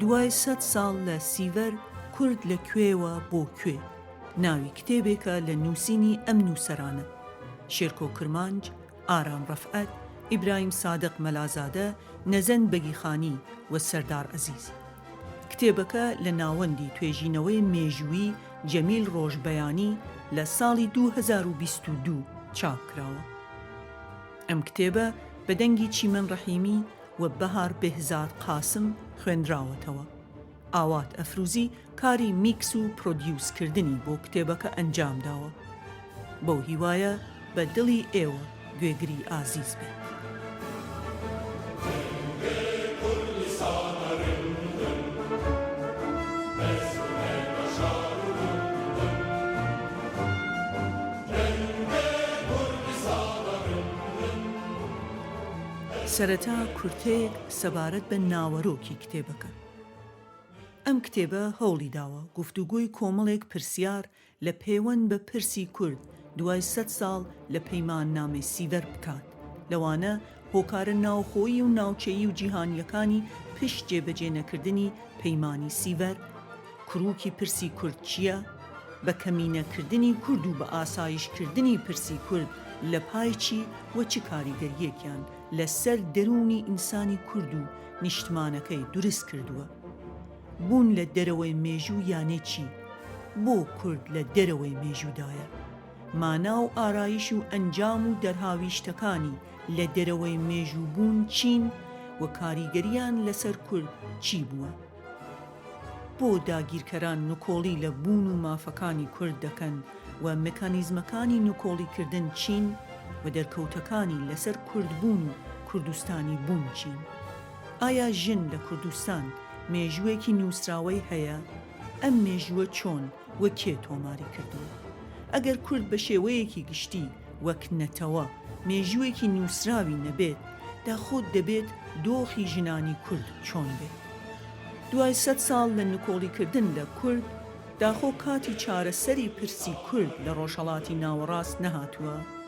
دوای سەد ساڵ لە سیڤەر، کورد لە کوێوە بۆ کوێ؟ ناوی کتێبێکە لە نووسینی ئەم نووسەرانە، شێرکۆ کرمانج، ئارام ڕەفعەت، ئیبراهیم سادق مەلازادە، نەزەند بەگیخانی و سەردار عەزیز. کتێبەکە لە ناوەندی توێژینەوەی مێژوویی جەمیل ڕۆژبەیانی لە ساڵی دوو هەزار و بیست و دوو چاپ کراوە. ئەم کتێبە بە دەنگی چیمەن ڕەحیمی و بەهار بێهزاد قاسم خوێندراوەتەوە. ئاوات ئەفروزی کاری میکس و پرۆدیوس کردنی بۆ کتێبەکە ئەنجام داوە. بەو هیوایە بە دڵی ئێوە گوێگری ئازیز بێت. سەرەتا کورتەیەک سەبارەت بە ناوەرۆکی کتێبەکە. ئەم کتێبە هەوڵی داوە گفتوگۆی کۆمەڵێک پرسیار لە پێوەند بە پرسی کورد دوای سەد ساڵ لە پەیماننامەی سیڤەر بکات، لەوانە هۆکارە ناوخۆیی و ناوچەیی و جیهانییەکانی پشت جێبەجێ نەکردنی پەیمانی سیڤەر، کروکی پرسی کورد چییە؟ بە کەمینە کردنی کورد و بە ئاسایش کردنی پرسی کورد لە پای چی و چ کاریگەرییەکیان لە سەر دەروونی ئینسانی کورد و نیشتمانەکەی دورست کردووە؟ بوون لە دەرەوەی مێژوو یانێ چی؟ بۆ کورد لە دەرەوەی مێژوودایە؟ مانا و ئارایش و ئەنجام و دەرهاویشتەکانی لە دەرەوەی مێژوو بوون چین و کاریگەریان لەسەر کورد چی بووە؟ بۆ داگیرکەران نکۆڵی لە بوون و مافەکانی کورد دەکەن و مکانیزمەکانی نکۆڵیکردن چین و دەرکەوتەکانی لەسەر کوردبوون و کوردستانی بوون چین؟ ئایا ژن لە کوردستان مێژووێکی نووسراوەی هەیە؟ ئەم مێژووە چۆن و کێ تۆماری کردووە؟ ئەگەر کورد بە شێوەیەکی گشتی وەک نەتەوە مێژووێکی نووسراوی نەبێت، داخۆ دەبێت دۆخی ژنانی کورد چۆن بێت؟ دوای سەد ساڵ لە نکۆڵیکردن لە کورد، داخۆ کاتی چارەسەری پرسی کورد لە ڕۆژهەڵاتی ناوەڕاست نەهاتووە؟